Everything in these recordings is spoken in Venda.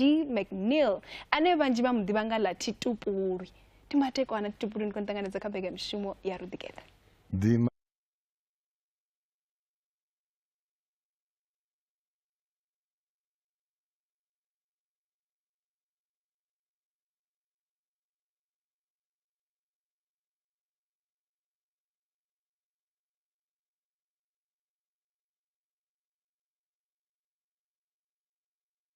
Dee McNeil ane vhanzhi vha mu ḓivha nga ḽa Titupulwi. Ndi mateko ana Titupulwi ndi khou nṱanganedza kha mbekamishumo ya Ruḓikeṱa.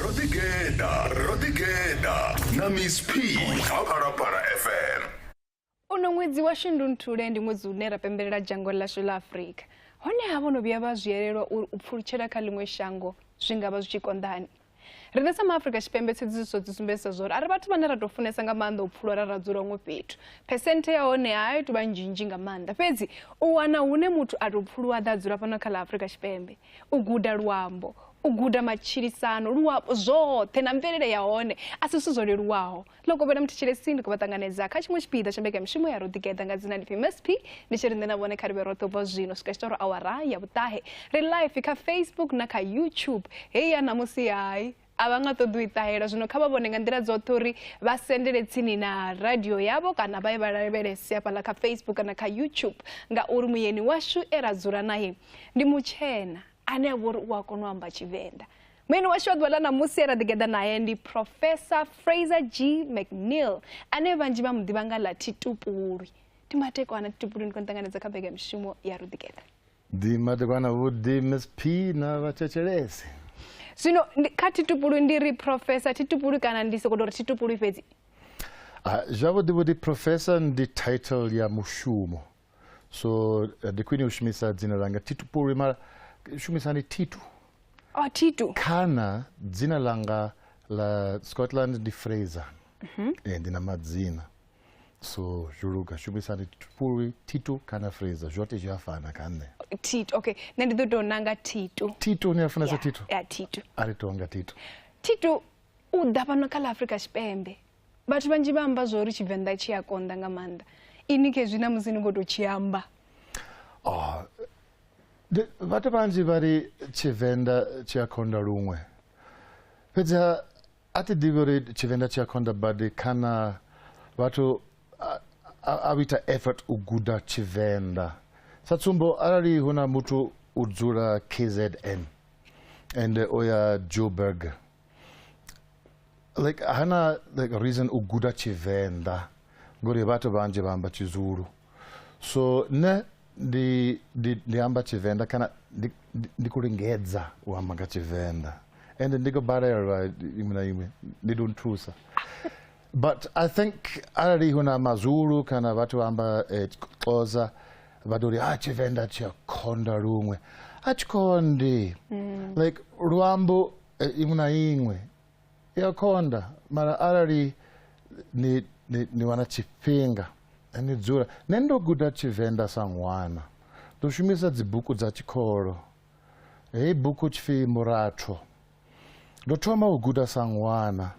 ro ḓi geḓa ro ḓi geḓa na miss p kha phalaphala fm uno ṅwedzi wa shundunthule ndi ṅwedzi une ra pembelela dzhango ḽashu ḽa afurika honeha vho no vhuya vha zwi elelwa uri u pfulutshela kha ḽiṅwe shango zwi nga vha zwi tshi konḓani riṋe sa maafurika tshipembe tsedzisiso dzi sumbedzisa zwa uri a ri vhathu vhane ra tou funesa nga maanḓa u pfulwa ra ra dzula huṅwe fhethu phesenthe ya hone a i tou vha nzhinzhi nga maanḓa fhedzi u wana hune muthu a tou pfuluwa ḓa a dzula fhano kha ḽa afurika tshipembe u guda luambo u guda matshilisano luambo zwoṱhe na mvelele ya hone a si zwithu zwo leluwaho ḽo kovhela muthu tshilesini ndi khou vha ṱanganedza kha tshiṅwe tshipiḓa tsha mbekamishumo ya roḓigeḓa nga dzina lifhi msp ndi tshi ri nṋe na vhone kha ri vhe roṱhe ubva zwino swika tshiṱoro awara ya vhuṱahe ri life kha facebook na kha youtube hei ya ṋamusi hai a vha nga ṱoḓi u i ṱahela zwino kha vha vhone nga nḓila dzoṱhe uri vha sendele tsini na radio yavho kana vha ye vha lavhelese hafhaḽa kha facebook kana kha youtube ngauri muyeni washu e ra dzula naye ndi mutshena ane a vha uri u a kona u amba tshivenḓa muyeni washu wa ḓuvha ḽa ṋamusi e ra ḓigeḓa naye ndi professor fraser g mcneil ane vhanzhi vha mu ḓivha nga ḽa thitupulwi ndi matekwana thitupulwi ndi khou ṱanganedza kha mbekamishumo ya ruḓigeḓa Di madekwana vho di Miss P na vha thetshelese. Zwino kha thi tupulu ndi ri professor thi tupulu kana ndi soko ri thi tupulu fhedzi. Ah zwavho di vho di professor ndi title ya mushumo. So eh, ndi khwini u shumisa dzina langa thi tupulu mara shumisani thitu. Oh thitu. Kana dzina langa la Scotland ndi Fraser. Mhm. Mm eh ndi na madzina. so zhuluga shumisani fhulwi thito kana fraser zwote zwi a fana kha nṋe thito okay nṋe ndi ḓo tou nanga thito thito ni a funesa thito ya thito a ri tou nga thito thito u ḓa fhano kha ḽa afrika tshipembe vhathu vhanzhi vha amba zwo uri tshivenḓa tshi a konḓa nga maanḓa ini khezwi na musi ni khou tou tshi amba oh, vhathu vhanzhi vha ri tshivenḓa tshi a khonda luṅwe fhedzi A thi ḓivhi uri tshivenḓa tshi a konḓa badi kana vhathu a ita effort u guda tshivenḓa sa tsumbo arali hu na muthu u dzula kzn ende o ya joburg like hana like reason u guda tshivenḓa ngori vhathu vhanzhi vha amba tshizulu so nṋe ndi ndi ndi amba tshivenḓa kana ndi ndi- ndi khou lingedza u amba nga tshivenḓa ende ndi khou balelwa iṅwe na iṅwe ndi ḓo nthusa but i think arali hu na mazulu kana vhathu vha amba eh, xhosa vha ḓo ri a tshivenḓa tshi a khonda luṅwe a tshi khondi like luambo eh, iṅwe na iṅwe i a konda mara arali ni, ni, ni wana tshifhinga ni dzula nṋe ndo guda tshivenḓa sa ṅwana ndo shumisa dzibuku dza tshikolo heyi buku tshipfi muratho ndo thoma u guda sa ṅwana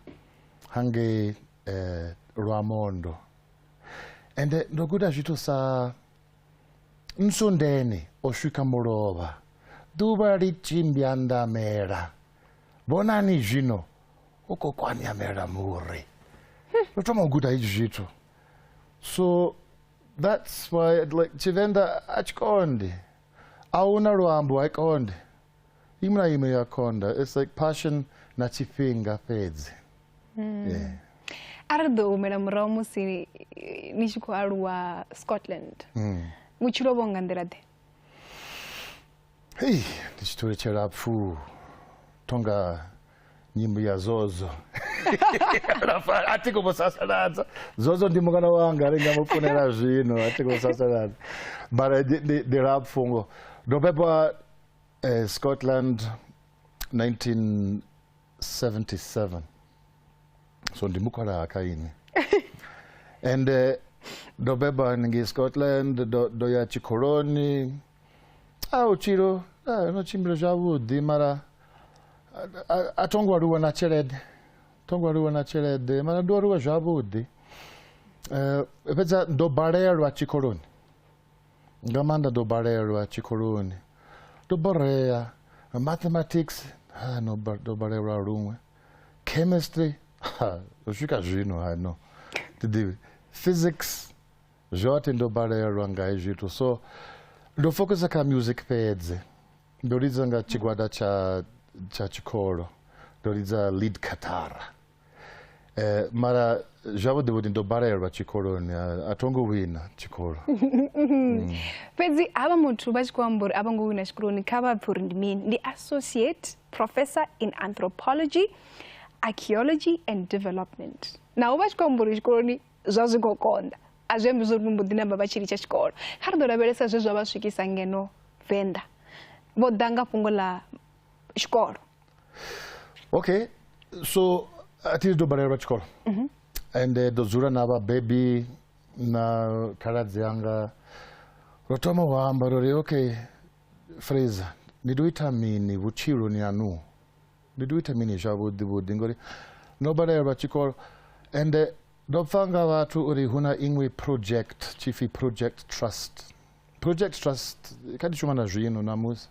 hangei eh, lwamondo ende ndo guda zwithu sa nsundeni o swika mulovha ḓuvha ḽi tshimbya ndamela vhonani zwino u khou kwanyamela muri u thoma u guda izwi zwithu so that's why like tshivenḓa a tshi konde a hu na luambo ha konde ime na ime ya konda it's like passion na tshifhinga fhedzi hmm. yeah. a ri ḓo humela murahu musi ni tshi khou aluwa scotland mm. vhutshilo vho nga nḓila ḓe Hei, ndi tshi thule tshilapfhu tonga nyimbo ya zozo Alafha, a thi khou mu sasaladza zozo ndi mungana wanga ri nga mu funela zwino a thi khou sasaladza mara ndi- ndi- ndi lapfhu ngo ndo bebwa eh, scotland 1977 so ndi mukhwalaha kha ini and eh, ndo bebwa ngei scotland ndo ndo ya tshikoloni a vhutshilo a, no tshimbila zwavhuḓi mara a- a- a tho ngo aluwa na tshelede tho ngo aluwa na tshelede mara ndo aluwa zwavhuḓi Eh, fhedza ndo balelwa tshikoloni nga maanḓa ndo balelwa tshikoloni ndo borea mathematics ha no ba- ndo balelwa luṅwe chemistry ha u swika zwino ha no ti ḓivhi physics Zwoṱhe ndo balelwa nga hezwi zwithu so ndo focusa kha music fhedzi ndo lidza nga tshigwada tsha tsha tshikolo ndo lidza lead katara um eh, mara zwavhuḓi vhuḓi ndo balelwa tshikoloni a tho ngo wina tshikolo mm. fhedzi havha muthu vha tshi khou amba uri a vho ngo wina tshikoloni kha vha pfhi uri ndi mini ndi associate professor in anthropology archaeology and development naho vha tshi khou amba uri tshikoloni zwa zwi khou konḓa a zwi ambi zwo ri mbo ḓi namba vha tshi litsha tshikolo kha ri ḓo lavhelesa zwe zwa vha swikisa ngeno venḓa vho ḓa nga fhungo ḽa tshikolo okay so a thi ḓo balelwa tshikolo mhm. ende ḓo dzula na vhabebi na khaladzi anga ro thoma u amba ro ri okay fraser ni ḓo ita mini vhutshiloni anuho ndi tou ita mini zwavhuḓi vhuḓi ngori ndo balelwa tshikolo ende ndo pfa nga vhathu uri hu na iṅwe project tshipfi project trust project trust kha ndi shuma na zwino namusi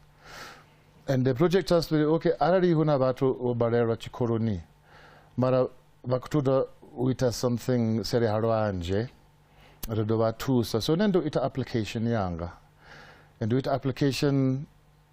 and the project trust okay arali hu na vhathu vho balelwa tshikoloni mara vha khou ṱoḓa u ita something sele ha lwanzhe ri ḓo vha thusa so nṋe ndo ita application yanga and ndo ita application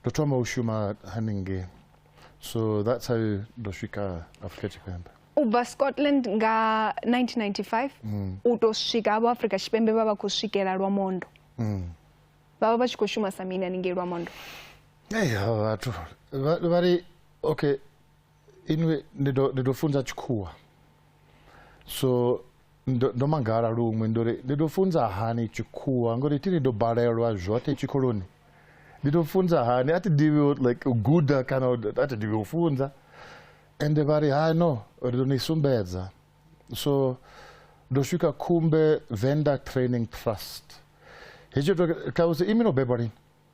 ndo thoma u shuma haningei so that's how ndo swika afrika tshipembe u bva scotland nga 1995 mm. u tou swika avho afrika tshipembe vha vha khou swikela lwa mondo mm. vha vha vha tshi khou shuma sa mini haningei lwa mondo eyi vhathu vha ri okay inwe ndi ḓo ndi ḓo funza tshikhuwa so ndo ndo mangala luṅwe ndo ri ndi ḓo funza hani tshikhuwa ngori thi ni ḓo balelwa zwoṱhe tshikoloni ndi ḓo funza hani a thi ḓivhi u- like u guda kana u- a thi ḓivhi u funza ende vha ri hai no ri ḓo ni sumbedza so ndo swika khumbe venda training trust hetsho to ṱalusa imi no bebwa lini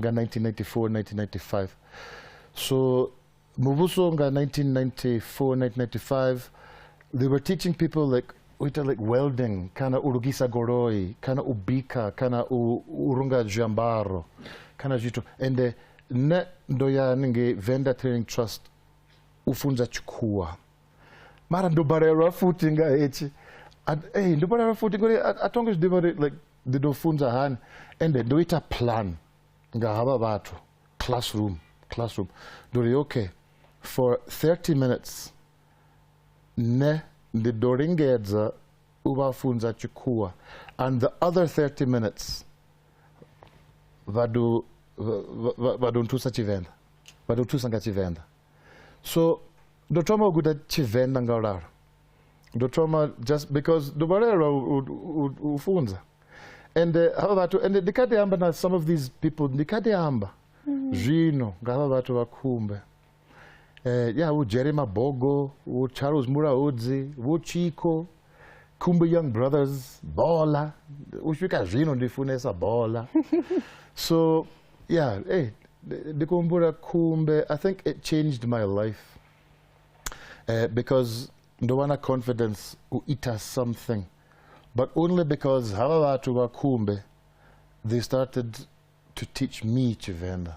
nga 1994-1995 so muvhuso nga 1994-1995 they were teaching people like u ita like welding kana u lugisa goloi kana u bika kana u, u runga zwiambaro kana zwithu ende nṋe ndo ya haningei venda training trust u funza tshikhuwa mara ndo balelwa futhi nga hetshi A- eh, ndo balelwa futhi ngori a a thongo zwi ḓivha uri like ndi ḓo funza hani ende ndo ita plan nga havha vhathu classroom classroom ndo ri okay for 30 minutes nṋe ndi ḓo lingedza u vha funza tshikhuwa and the other 30 minutes vha ḓo vha ḓo nthusa tshivenḓa vha ḓo thusa nga tshivenḓa so ndo thoma u guda tshivenḓa nga u lalo ndo thoma just because ndo balelwa u- u- u- u funza and eh, hava vhathu and ndi kha ḓi amba na some of these people ndi kha ḓi amba zwino nga hava vhathu vha khumbe eh, ya vho jerry mabogo vho charles mulaudzi vho chiko khumbe young brothers bola u swika zwino ndi funesa bola so yeah hey, ndi- ndi kuhumbula khumbe i think it changed my life uh, because ndo vha na confidence u ita something but only because hava vhathu vha khumbe they started to teach me tshivenḓa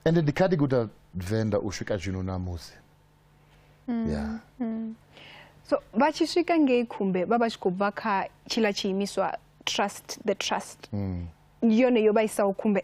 ende ndi kha ndi guda venḓa u swika zwino na musi mm, yeah. Mm. so vha tshi swika ngei khumbe vha vha tshi khou bva kha tshila tshiimiswa trust the trust mm. yone yo vha isaho khumbe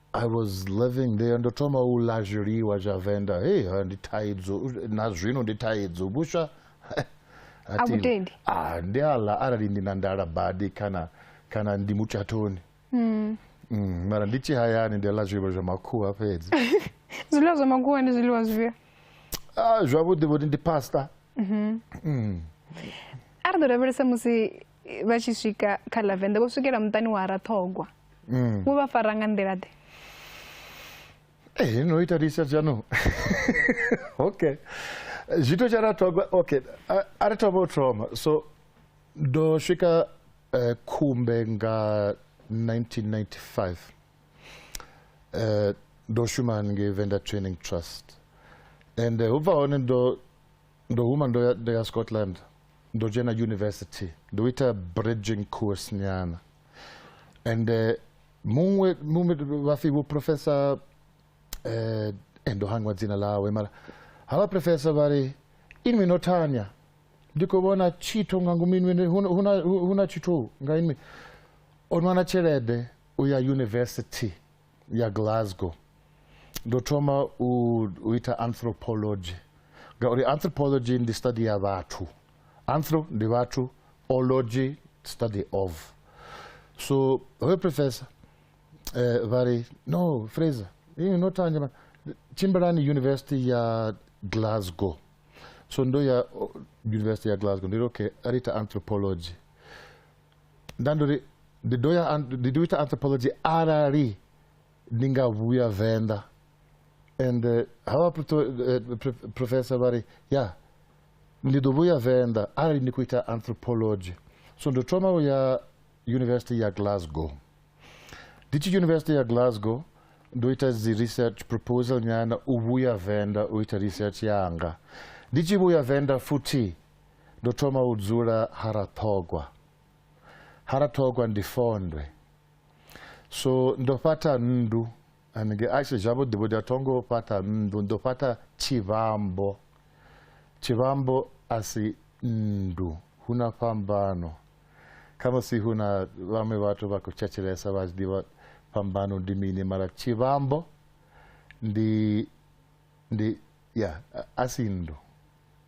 I was living there ndo thoma u ḽa zwiḽiwa zwa venḓa hey ha ndi thaidzo na zwino ndi thaidzo vhuswa a vhutendi ah ndi a ḽa arali ndi na ndala badi kana kana ndi mutshathoni mm. mm. mara ndi tshi hayani ndi ḽa zwiḽiwa zwa makhuwa fhedzi zwiḽiwa zwa makhuwa ndi zwiḽiwa zwifhio ah, zwavhuḓi vhuḓi ndi pasta mm-hmm. mm. a ri ḓo lavhelesa musi vha tshi swika kha lavenda vho swikela muṱani wa raṱhogwa mm. wo vha fara nga nḓila ḓe eh, no ita lisa dzano okay zwithu tsha raṱhogwa okay a ri thoma u thoma so ndo swika eh, khumbe nga 1995 eh, ndo shuma haningei venda training trust and ubva hone ndo ndo huma ndo ya, ndo ya scotland ndo dzhena university ndo ita bridging course nyana and uh, muṅwe muṅwe vhafi vho professor eh eh, ndo hangwa dzina ḽawe mara havha professor vha ri inwi no tanya ndi khou vhona tshithu nga ngomu inwi hu na- hu na- hu na tshithu nga inwi o nwana tshelede u ya university ya glasgow ndo thoma u, u ita anthropology ngauri anthropology ndi study ya vhathu anthro ndi vhathu ology study of so hoyo professor eh, vha ri no fraser ini no tanja ma- tshimbilani university ya glasgow so ndo ya o, university ya glasgow ndiri okay a ri ita anthropology nda ndo ri ndi ḓo ya ndi ḓo ita anthropology arali ndi nga vhuya venḓa and eh, havha eh, professor vha ri ya ndi ḓo vhuya venḓa arali ndi khou ita anthropology so ndo thoma u ya university ya glasgow ndi tshi university ya glasgow ndo ita dzi research proposal nyana u vhuya venḓa u ita research yanga ndi tshi vhuya venḓa futhi ndo thoma u dzula ha raṱhogwa ha raṱhogwa ndi fondwe so ndo fhaṱha nndu anenge ashe zwavhuḓi vhuḓi a thongo fhaṱha nndu ndo fhaṱha tshivhambo tshivhambo a si nndu hu na fhambano khamusi hu na vhaṅwe vhathu vha khou tshetshelesa vha tshi ḓivha fhambano ndi mini mara tshivhambo ndi ndi ya a si nndu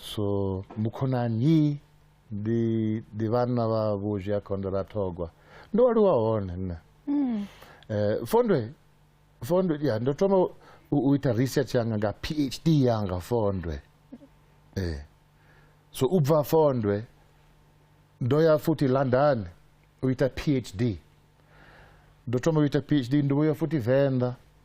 so mukhonani ndi ndi vhanna vha vhuzhi a khondo ra thogwa ndo aluwa hone nṋe mm. eh, fondwe fondwe ya ndo thoma u ita research yanga nga phd yanga fondwe eh. so u bva fondwe ndo ya futhi london u ita phd ndo thoma u ita phd ndo vhuya futhi venḓa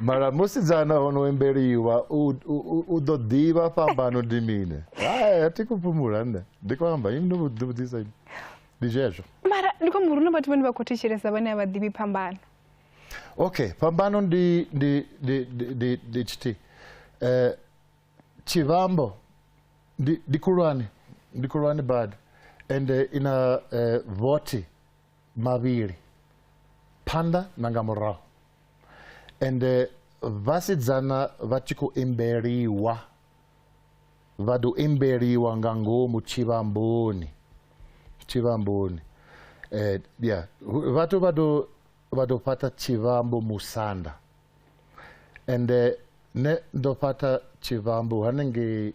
mara musidzana hono wembeliwa u ḓo ḓivha fhambano ndi mine hai a thi khou fhumula nṋe ndi khou amba ini no vhudzisa ini ndi zwezwo mara ndi khou muru na vhathu vhane vha khou thetshelesa vhane a vha ḓivhi phambano okay phambano ndi ndi ndi ndi ndi tshiti eh tshivhambo ndi ndi khulwane ndi khulwane bad ende ina eh, voti mavhili phanḓa na nga murahu ende vhasidzana vha tshi khou imbeliwa vha ḓo imbeliwa nga ngomu tshivhamboni tshivhamboni eh, yeah. vhathu vha ḓo vha ḓo fhaṱa tshivhambo musanda ende ne ndo fhaṱa tshivhambo hanengei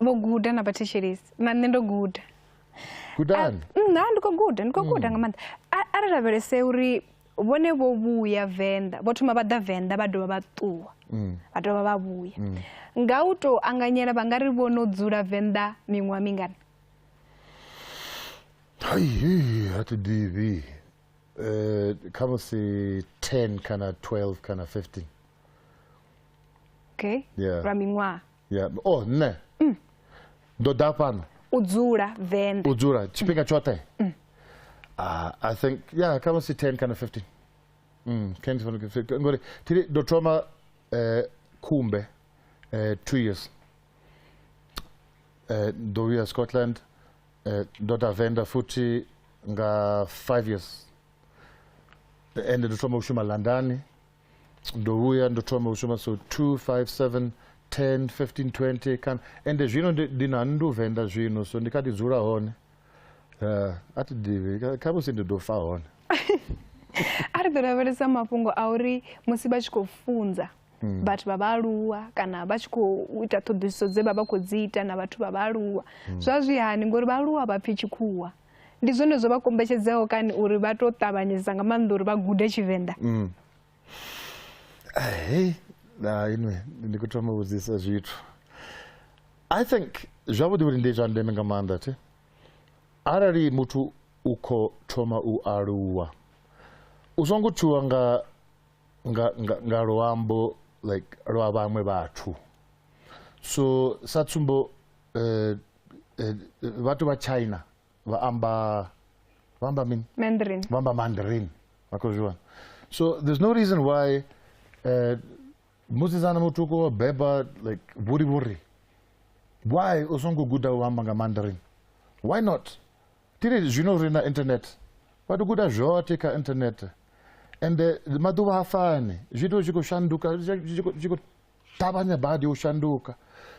vho guda na vhathetshelisi na nṋe ndo guda gudani nṋa ndi khou guda ndi khou guda nga maanḓa a ri lavhelese uri vhone vho vhuya venḓa vho thoma vha ḓa venḓa vha dovha vha ṱuwa mm. vha dovha vha vhuya mm. nga u tou anganyela vha nga ri vho no dzula venḓa miṅwaha mingana haihi ha thi ḓivhi um kha musi ten kana twelve kana fifteen okay yeah. lwa miṅwaha ya o oh, nṋe mm. ndo ḓa fhano u dzula venḓa u dzula tshifhinga tshoṱhe mm. ah, i think ya khamusi 10 kana 15 ngori tiri ndo thoma eh, khumbe eh, two years eh, ndo vhuya scotland ndo ta venḓa futhi nga five years ende ndo thoma u shuma london ndouya ndotoma kushoma so 257 10 15 20 kana ende zvino ndinhani nduvhenda zvino so ndikati dzura hone uh, ati divi kamusi ndidofa hone ari kutoraveresa mafhungo auri musi vha tshi khou funza hmm. vhathu vha vhaaluwa kana vha tshi khou ita ṱhoḓisiso dze vha vha khou dzi ita na vhathu vha vhaaluwa hmm. zwa zwi hani ngori vhaaluwa vha pfhi tshikhuwa ndi zwone zwo vha kombetshedzaho kani uri vha to ṱavhanyedza nga maanḓa uri vha gude tshivenḓa mm. hey na inwe ndi khou thoma vhudzisa zwithu i think zwavhuḓi vhuri ndi zwa ndeme nga maanḓa thi arali muthu u khou thoma u aluwa u songo tshuwa nga nga nga, nga luambo like lwa vhaṅwe vhathu so sa tsumbo uh, eh, vhathu vha china vha amba vha amba mini mandarin vha amba mandarin vha khou zwiwana so there's no reason why eh, musidzana mutuku wa beba like vhuri vhuri why u songo guda u amba nga mandarin why not tiri zwino ri na internet vha tou guda zwoṱhe kha internet ende maḓuvha ha fani zwithu zwi khou shanduka zwi khou ṱavhanya badi u shanduka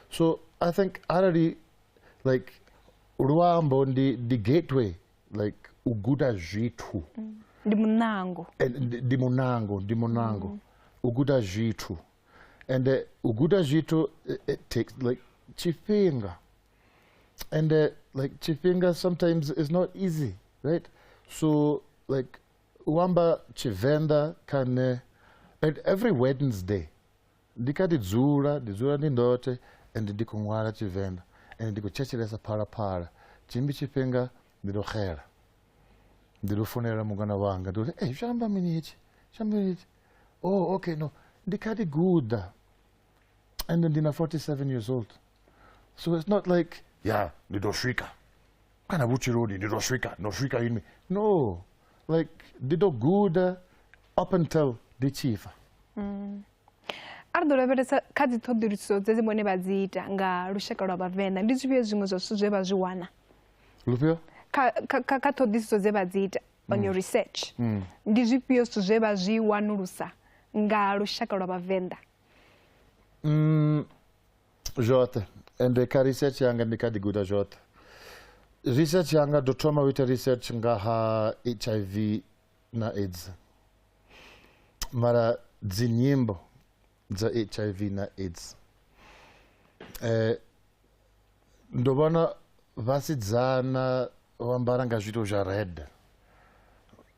so i think arali like luambo ndi ndi gateway like u guda zwithu mm. ndi munango eh, ndi munango ndi munango mm. u guda zwithu and eh, u guda zwithu eh, it takes like tshifhinga and like tshifhinga sometimes is not easy right so like u amba tshivenḓa kha nṋe and every wednesday ndi kha ḓi dzula ndi dzula ndi ndoṱhe and ndi khou ṅwala tshivenḓa and ndi khou thetshelesa phalaphala tshimbi tshifhinga ndi tou xela ndi tou funela mungana wanga ndi uri ei zwi amba mini hetshi zwi amba mini hetshi oh okay no ndi kha ḓi guda And then Dina, 47 years old. So it's not like, yeah, the Doshika. Kana Wuchi Road, the Doshika, Doshika in me. No. Like, the dog good uh, up until the chief. Mm. ari ḓo lavhelesa kha dzi ṱhoḓuluso dze dzi vhone vha dzi ita nga lushaka lwa vhavenḓa ndi zwifhio zwiṅwe zwa zwithu zwe vha zwi wana lufhio kha ṱhoḓisiso dze vha dzi ita on your research mm. ndi zwifhio zwithu zwe vha zwi wanulusa nga lushaka lwa vhavenḓa mm, zwoṱhe ende kha research yanga ndi kha ḓi guda zwoṱhe research yanga ndo thoma u ita research nga ha hiv na aids mara dzinyimbo dza hiv na aids eh, ndo vhona vhasidzana vha ambara nga zwito zwa red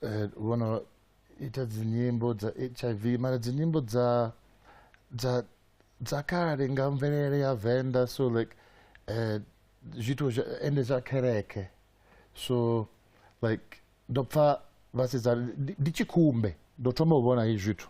eh, vhono ita dzinyimbo dza hiv mara dzinyimbo dza dza dza kale nga mvelele ya venḓa so like eh, zwithu ende zwa kereke so like ndo pfa vhasidzana ndi tshi khumbe ndo thoma u vhona hezwi zwithu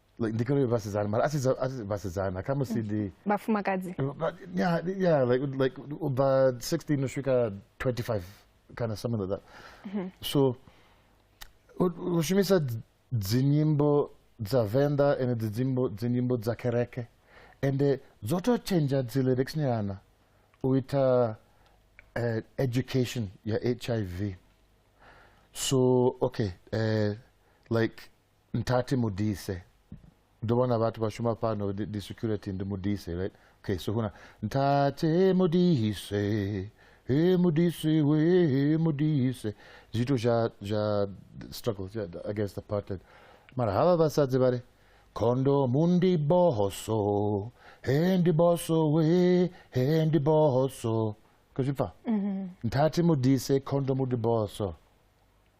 like ndi kuri vhasidzana mara asi za- asi vhasidzana kha musi ndi vhafumakadzi Uh, but yeah, yeah, like like about sixteen Ushika twenty five, kind of something like that. So, u- ushumisa dz- dzinyimbo dza venda and dzinyimbo dzinyimbo dza kereke, and eh, dzotochenja dzi lyrics nyana uita eh, education ya HIV. So okay, eh, like Mthathe Modise. Ndo vhona vhathu vha shuma fhano ndi ndi security ndi Modise right. Okay so huna Mthathe Modise. He Modise we he Modise. Zwithu zwa zwa struggle zwa against the apartheid. Mara havha vhasadzi vha ri khondomu ndi boso. He ndi boso we he ndi boso. Kuzwi pfa? Mthathe Modise khondomu ndi boso.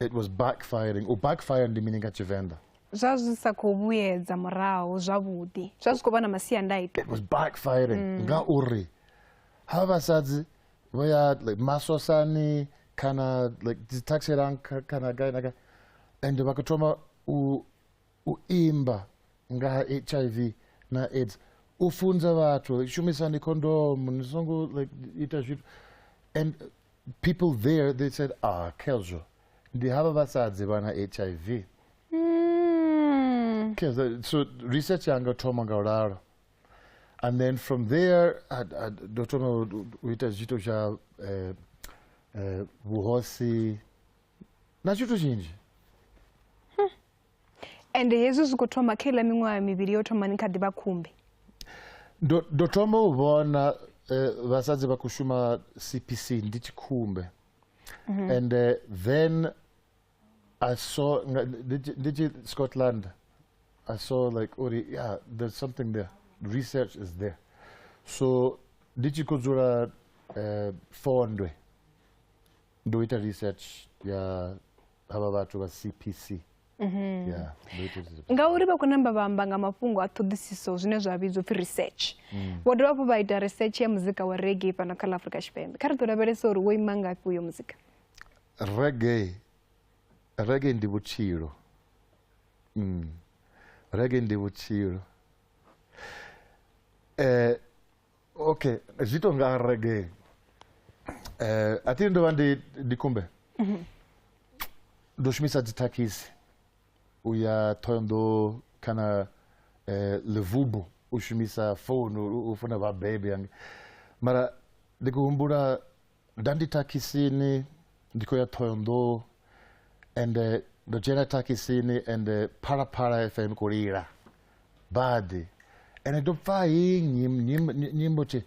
It was backfiring. U backfire ndi mini nga Tshivenḓa? Zwa zwi sa khou vhuyedza murahu zwavhuḓi. Zwa zwi khou vha na masiandaitwa. It was backfiring mm. nga uri ha vhasadzi vho ya like masosani kana like dzi taxi rank kana gai na gai and vha khou thoma u u imba nga ha hiv na aids u funza vhathu shumisani khondomu ni songo like ita zwithu and people there they said ah khezwo ndi havha vhasadzi vha na hiv mm. khezwo so research yanga thoma nga u lalo and then from there ndo thoma u ita zwithu zwa eh, eh, vhuhosi na tshithu tshinzhi ende hezwi zwi khou thoma kha iḽa miṅwaha mivhili yo thoma ni kha ḓi vha khumbi ndo thoma u vhona eh, vhasadzi vha khou shuma cpc ndi tshi khumbe mhm. and eh, then i saw ndi tshi scotland i saw like uri yeah there's something there research is there so ndi tshi khou dzula eh, fondwe ndo ita research ya havha vhathu vha CPC mhm. yeah, ngauri vha khou namba vha amba nga mafhungo a ṱhoḓisiso zwine zwa vhidzwa upfhi research mm. vho dovha hafhu vha ita research ya muzika wa rege fhano kha ḽa afrika tshipembe kha ri ḓo lavhelesa uri wo ima ngafhi uyo muzika rege rege ndi vhutshilo mm. rege ndi vhutshilo um ok zwi tou nga reggae eh, a thi ndo vha ndi ndi kumbe mhm. ndo shumisa dzithakhisi u ya thohoyandou kana eh, levubo u shumisa founu u funa vhabebi yange mara ndi khou humbula nda ndi thakhisini ndi khou ya thohoyonḓou ende ndo dzhena thakhisini ende phalaphala fm khou lila badi ende ndo pfa hi nyimbo tshi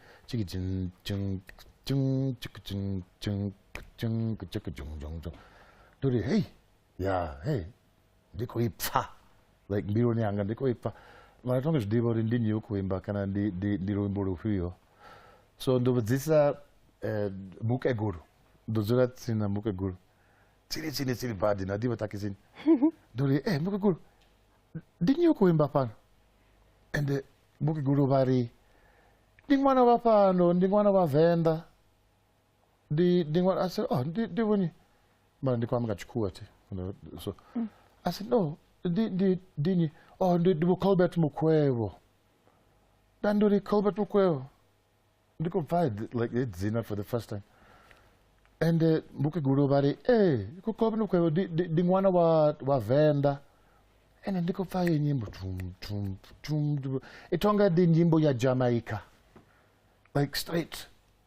ndori hei ya hei ndi khou i pfa like mbiluni yanga ndi khou i pfa mara tonge zwi ḓivha uri ndi nnyi u khou imba kana ndi luimbo lufhio so ndo vhudzisa eh, mukegulu ndo dzula tsini na mukegulu tsini tsini tsini badi na ḓivha takisini ndo ri e mukegulu ndi nnyi u khou imba fhano ende mukegulu vha ri ndi ṅwana wa fhano ndi ṅwana wa venḓa ndi ndi ṅwana a said oh ndi ndi vhoni mara ndi khou amba nga tshikhuwa thi so mm. a said no ndi ndi ndi ni oh ndi ndi Colbert Mukwevho nda ndi uri Colbert Mukwevho ndi khou bva like he dzina for the first time and uh, mukegulu vha ri ee eh, khou Colbert Mukwevho ndi ṅwana wa wa Venḓa ene ndi khou pfa ye nyimbo tum tum tum i tonga ndi nyimbo ya Jamaica like straight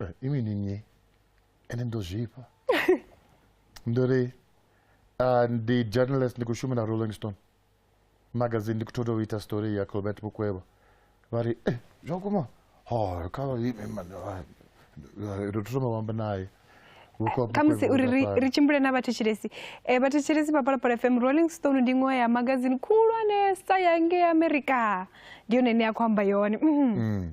Eh, imi ni nnyi ende ndo zwifha ndo ri ah, ndi journalist ndi khou shuma na rolling stone magazine ndi khou thoda u ita story ya colbert mukwevha vha ri e zwa vhukuma ho kha vha ime mani ah, ah, ro thoma vhamba naye Vhukwa khamusi Mukwevha uri ri, Mudafari. ri tshimbile na vhathetshelesi e, vhathetshelesi vha palapala fm rolling stone ndi iṅwe ya magazini khulwanesa ya ngei america ndi yone ine ya khou amba yone Mhm. Mm.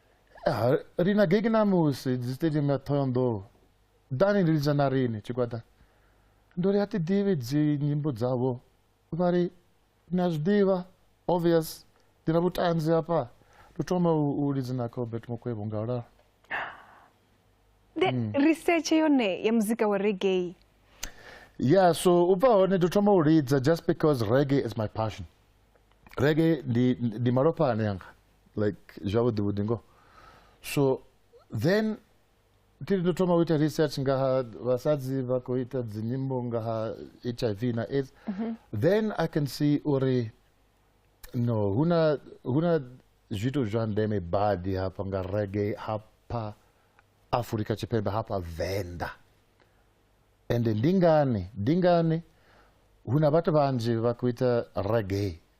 Eh, ri na gegi ṋamusi dzi stadium ya thohoyandou ḓani ndi lidza na riṋe tshigwada ndo ri a ti ḓivhi dzi nyimbo dzavho vha ri ni a zwi ḓivha obvious ndi na vhutanzi hafha ndo thoma u lidza na cobert mukwevho nga ulalo hmm. research yone ya muzika wa reggae ya so u bva hone ndo thoma u lidza just because reggae is my passion reggae ndi malofha ane anga like zwavhuḓi vhuḓi ngoho so then thi ndo thoma u ita research nga ha vhasadzi vha khou ita dzinyimbo nga ha h i v na aids mhm. then i can see uri no hu na hu na zwithu zwa ndeme badi hafha nga rege hafha afurika tshipembe hafha venḓa ende ndi ngani ndi ngani hu na vhathu vhanzhi vha khou ita rege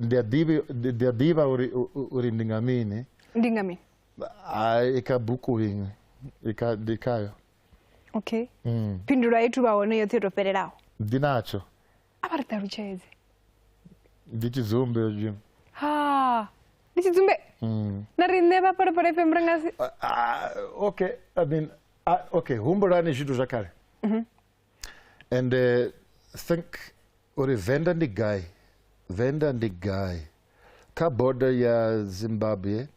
ndi a ḓivha ndi a ḓivha uri u- uri ndi nga mini ndi nga mini Ah, i kha buku iṅwe i kha ndi khayo okay Mm. phindulo a ithu vha hone yoṱhe yo to fhelelaho ndi natsho a vha ri ṱalutshedze ndi tshidzumbe zwi ha ndi tshidzumbe Mm. na riṋe vha phalaphala fm ri nga si Ah, okay i mean ah, okay humbulani zwithu zwa kale and uh, think uri venda ndi gai venda ndi gai kha border ya zimbabwe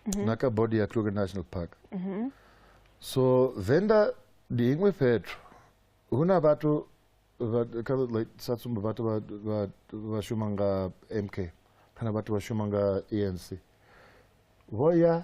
mm -hmm. na kha border ya kruger national park mm -hmm. so venda ndi iṅwe fhethu hu na vhathu sa tsumbo vhathu vha shuma nga mk kana vhathu vha shuma nga enc vho ya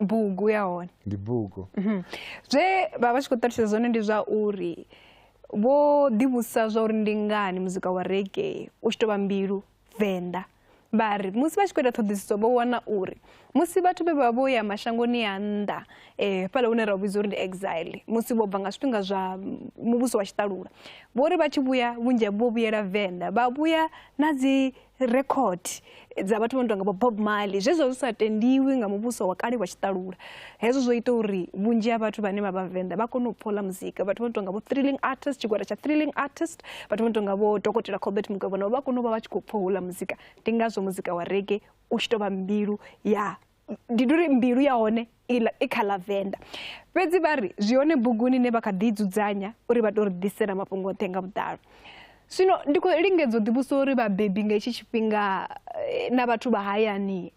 bugu ya hone ndi bugu mhm. zwe vha vha tshi khou ṱalutshedza zwone ndi zwa uri vho ḓivhusa zwa uri ndi ngani muzika wa rege u tshi tou vha mbilu venḓa vha ri musi vha tshi khou ita ṱhoḓisiso vho wana uri musi vhathu vhe vha vho ya mashangoni a nnḓa um fhala hune ra u vhidza uri ndi exile musi vho bva nga zwifhinga zwa muvhuso wa tshiṱalula vho ri vha tshi vhuya vhunzhi vho vhuyela venḓa vha vhuya na dzi record dza vhathu vha no tonga bob marley zwezwo zwi sa tendiwi nga muvhuso wa kale wa tshiṱalula hezwo zwo ita uri vhunzhi ha vhathu vhane vha vhavenḓa vha kone u phola muzika vhathu vha no tonga vho thrilling artist tshigwada tsha thrilling artist vhathu vha no tonga vho dokotela cobert mugwevho navho vha kone u vha vha tshi khou pfha houḽa muzika ndi ngazwo muzika wa rege u tshi tou vha mbilu ya ndi tori mbilu ya hone i kha ḽa venḓa fhedzi vha ri zwi hone buguni ine vha kha ḓi dzudzanya uri vha to ri ḓisela mafhungo oṱhe nga vhuḓalo zwino ndi khou lingedza u ḓivhusa uri vhabebi nga hetshi tshifhinga eh, na vhathu vha hayani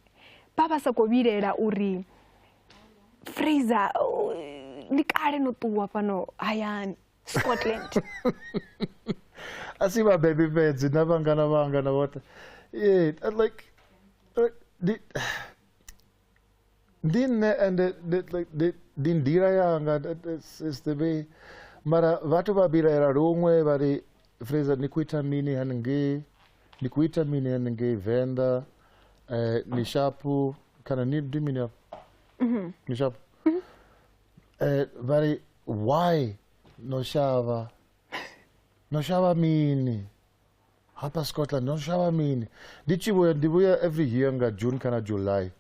vha vha sa khou vhilela uri fraser eh, ndi kale no ṱuwa fhano hayani scotland a si vhabebi fhedzi na vhangana vhanga na vhoṱhe yeah, like ndi ndi nṋe ende ndi nḓila yanga is the way mara vhathu vha vhilaela luṅwe vha ri fraser ni khou ita mini haningei ni khou ita mini haningei venḓa um ni shapu kana ni ndi mini afho mhm. ni shapu mhm. Eh, vha ri why no shavha no shavha mini hapa scotland no shavha mini ndi tshi vhuya ndi vhuya every year nga june kana july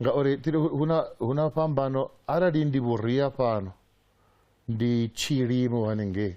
ngauri tiri hu na hu na fhambano arali ndi vhuria fhano ndi tshilimo hanengei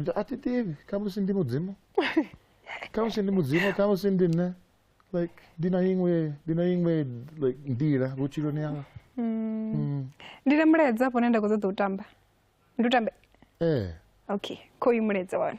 Ndo- a thi ḓivhi khamusi ndi mudzimu khamusi ndi mudzimu khamusi ndi nṋe like ndi na iṅwe ndi na iṅwe like nḓila vhutshiloni yanga Mm. ndi na mulaedza afho une nda khou ṱoḓa u tamba ndi u tambe ee okay kho uyu mulaedza wana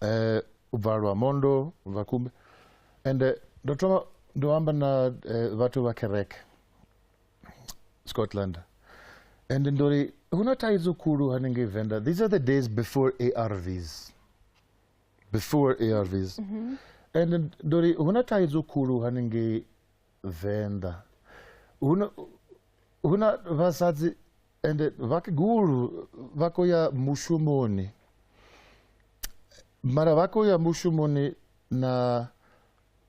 eh, ubva lwa mondo ubva kumbe and eh, ndo thoma ndo amba na eh, vhathu vha kereke scotland and ndo ri hu na thaidzo khulu hanengei venda these are the days before arvs before arvs mm -hmm. and ndo ri hu na thaidzo khulu hanengei Venḓa huna huna vhasadzi ende vhakegulu vha khou ya mushumoni mara vha khou ya mushumoni na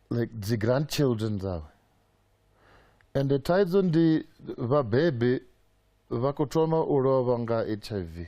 like dzi grandchildren dzavho ende thaidzo ndi vhabebi vha khou thoma u lovha nga h i v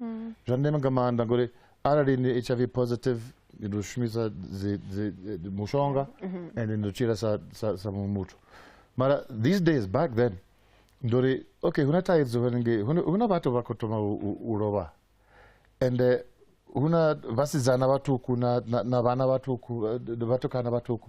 mm. zwa ndeme nga maanḓa ngori arali ni h i v positive ni ḓo shumisa mushonga mhm. and ni ḓo tshila sa muṅwe muthu mara these days back then ndo ri okay hu na thaidzo hanengei hu na vhathu vha khou thoma u lovha ende eh, hu na vhasidzana vhaṱuku na vhana vhaṱuku eh, vhatukana vhaṱuku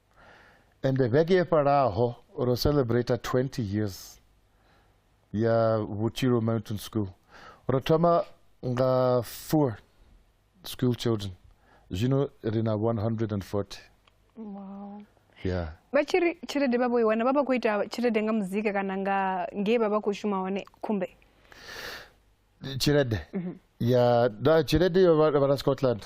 ende vhege yo fhalaho ro celebrate 20 years ya vhutshilo mountain school ro thoma nga four school children zwino ri na 140 wow. yeah. vha tshi ri tshelede vha vho i wana vha vha khou ita tshelede nga muzika kana nga ngei vha vha khou shuma hone khumbe tshelede mm -hmm. ya da tshelede yo vha na scotland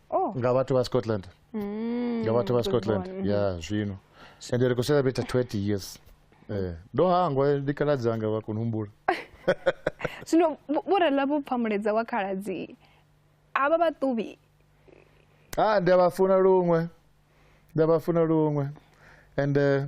oh. nga vhathu vha scotland mm, nga vhathu vha scotland ya yeah, zwino ende ri khou celebrate 20 years eh, ndo hangwa ndi khaladzi anga vha kona humbula zwino vho rela vho pfamuledza wa khaladzi avha vhaṱuvhi a ah, ndi a vha funa luṅwe ndi a vha funa luṅwe ende eh,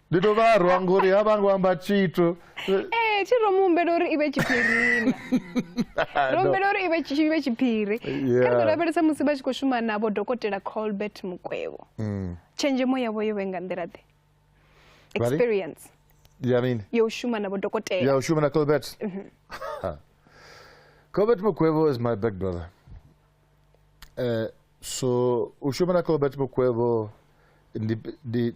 ndi to vharwa ngori ha vha ngo amba tshithu ee eh, tshi ro mu humbela uri i vhe tshiphirini ro humbela uri i vhe tshiphiri kha ri ḓo lavhelesa musi vha tshi khou shuma navho dokotela colbert mukwevho mm. tshenzhemo yavho yo vhe nga nḓila ḓe experience ya mini yo shuma navho dokotela ya shuma na colbert mhm. colbert mukwevho is my big brother uh, so u shuma na colbert mukwevho ndi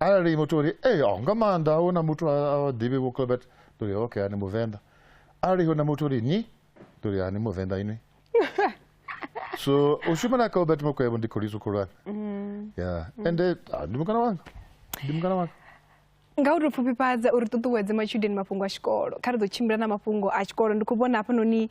arali muthu uri ee oh, nga maanḓa a huna muthu a ḓivhi vho clobert ndi uri okay ani muvenḓa arali huna muthu uri nyi ndi uri ani muvenḓa ini so u shuma na clobert mokwebo ndi kholiso khulwane mm. ya ende ah, ndi mukana wanga ndi mukana wanga nga u tou pfufhifhadza uri ṱuṱuwedze matshudeni mafhungo a tshikolo kha ri ḓo tshimbila na mafhungo a tshikolo ndi khou vhona hafhanoni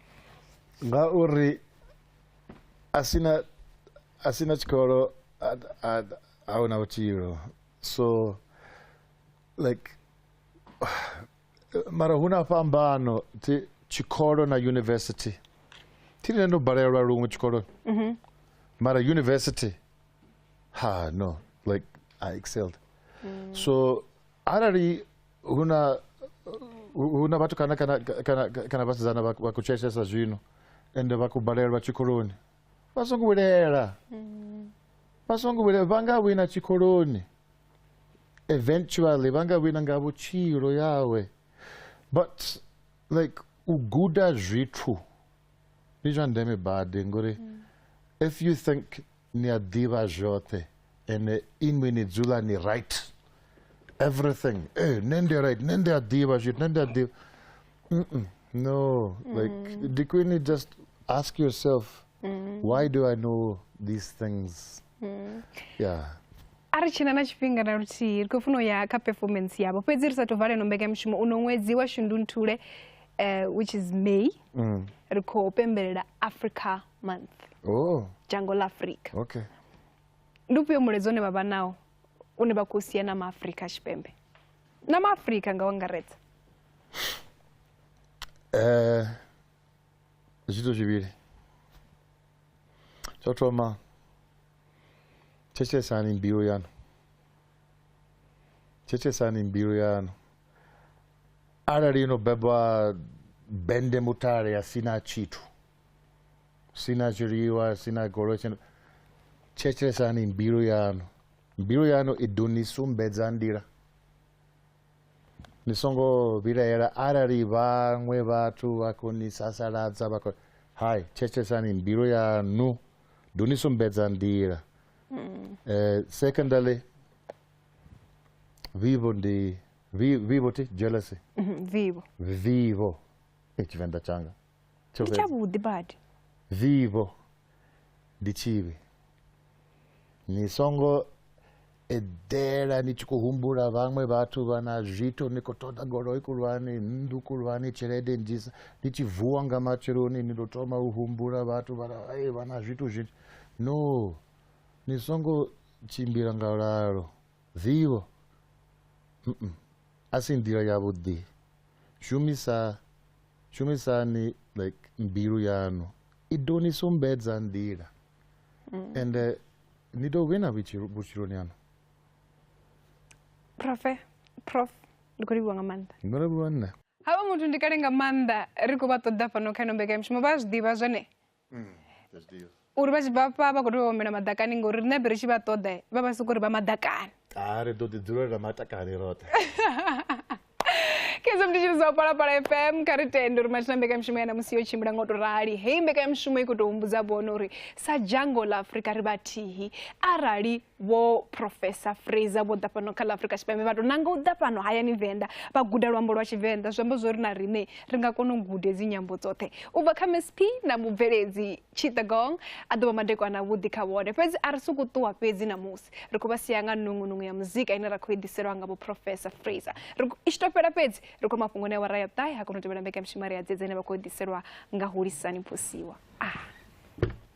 nga uri a sina a sina tshikolo a huna vhutshilo so like mara hu na fhambano thi tshikolo na university thi nṋe ndo balelwa luṅwe tshikoloni mhm. mara university ha no like i excelled mm. so arali huna huna vhathu kana kana kana kana vhasidzana vha kutsheshesa zwino ende vha kubalelwa tshikoloni vha songo vhulela mm. vha songo vhulela vha nga wina tshikoloni eventually vha nga wina nga vhutshilo yawe but like u guda zwithu ndi zwa ndeme badi ngori mm. if you think ni a ḓivha zwoṱhe ende inwi ni dzula ni right everything e nṋe ndi right nṋe ndi a ḓivha zwithu nṋe ndi a ḓivha no like mm. ndi khwine just ask yourself mm. why do i know these things mm. yeah a ri tshina na tshifhinga na luthihi ri khou funa u ya kha performance yavho fhedzi ri sa tou valeno mbekanyamushumo uno ṅwedzi wa shundunthule uh, which is may mm. ri khou pembelela africa month oh dzhango ḽa afrika okay ndi ufhio mulaedza une vha vha nawo une vha khou sia na maafrika tshipembe na maafrika nga u angaredza eh zwithu zwivhili tsho thoma thetshelesani mbilu yanu thetshelesani mbilu yanu arali ino bebwa bende mutale ya sina tshithu sina zwiḽiwa sina goloi sina thetshelesani mbilu yanu mbilu yanu i ḓo ni sumbedza nḓila ni songo vhilaela arali vhaṅwe vhathu vha khou ni sasaladza vha khou hai thetshelesani mbilu yanu ḓo ni sumbedza nḓila um secondly vivo ndi vivo ti jealousy vivo vivo e tshivenḓa tshanga Tsho ndi fhedza. tshavhuḓi badi vivho ndi tshivhi ni songo eḓela ni tshi khou humbula vhaṅwe vhathu vha na zwithu ni khou ṱoḓa goloi khulwane nnḓu khulwane tshelede nnzhisa ni tshi vuwa nga matsheloni ni ḓo thoma u humbula vhathu vha na- "Ai, vha na zwithu zwinzhi no ni songo tshimbila nga lalo vivho Mm-mm. a si nḓila yavhuḓi shumisa shumisani like mbilu yanu i ḓo ni sumbedza nḓila mm. and uh, ni ḓo wina vhutshiloni yanu profe prof ndi khou livhiwa nga maanḓa ndo livhiwa nṋe havha muthu ndi kale nga maanḓa ri khou vha ṱoḓa fhano kha ino mbekanyamushumo vha zwi ḓivha zwone mm, uri vha tshi bva fha vha khou tea vhomela maḓakani ngori riṋe be ri tshi vha ṱoḓa vha vha soko uri vha maḓakani a ah, ri ḓo ḓi dzulela matakani roṱhe kedzo mnditshiri zwa u palapala fm kha ri tende uri matshina mbekanyamishumo ya namusi yo tshimbila ngo to rali heyi mbekanyamishumo i khou tou humbudza vhona uri sa dzhango ḽa afurika ri vhathihi arali vho professor fraser vho ḓa fhano kha ḽa afrika tshipembe vha tou nanga u ḓa fhano hayani venḓa vha guda luambo lwa tshivenḓa zwi amba zwo ri na riṋe ri nga kona u gude dzi nyambo dzoṱhe u bva kha msp na mubveledzi chitagong a ḓo vha madekwana avhuḓi kha vhone fhedzi a ri sokou ṱuwa fhedzi ṋamusi ri khou vha sia nga nungunungu ya muzika ine ra khou i ḓiselwa nga vho professor fraser i tshi to fhela fhedzi ri khou mafhungoni a wara ya ṱahe ha kona u tevhela mbekamishumo ri ya dzedze ine vha khou ḓiselwa nga hulisani phosiwa ah.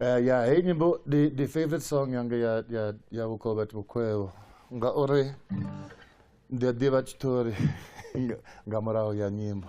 Uh, ya hei nyimbo ndi ndi favorite song yanga ya ya ya vhukovhati vhukhwevho ngauri ndi a ḓivha tshiṱori nga- nga murahu ya nyimbo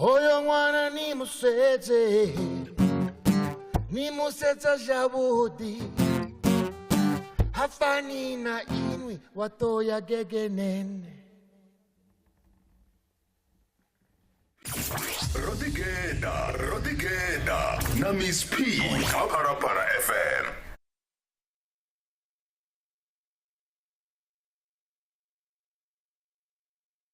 hoyo ṅwana ni musedze ni musedza zwavhuḓi ha fani na inwi wa ṱo ya gegenene ro ḓigeda ro ḓigeda na miss p kha phalaphala fm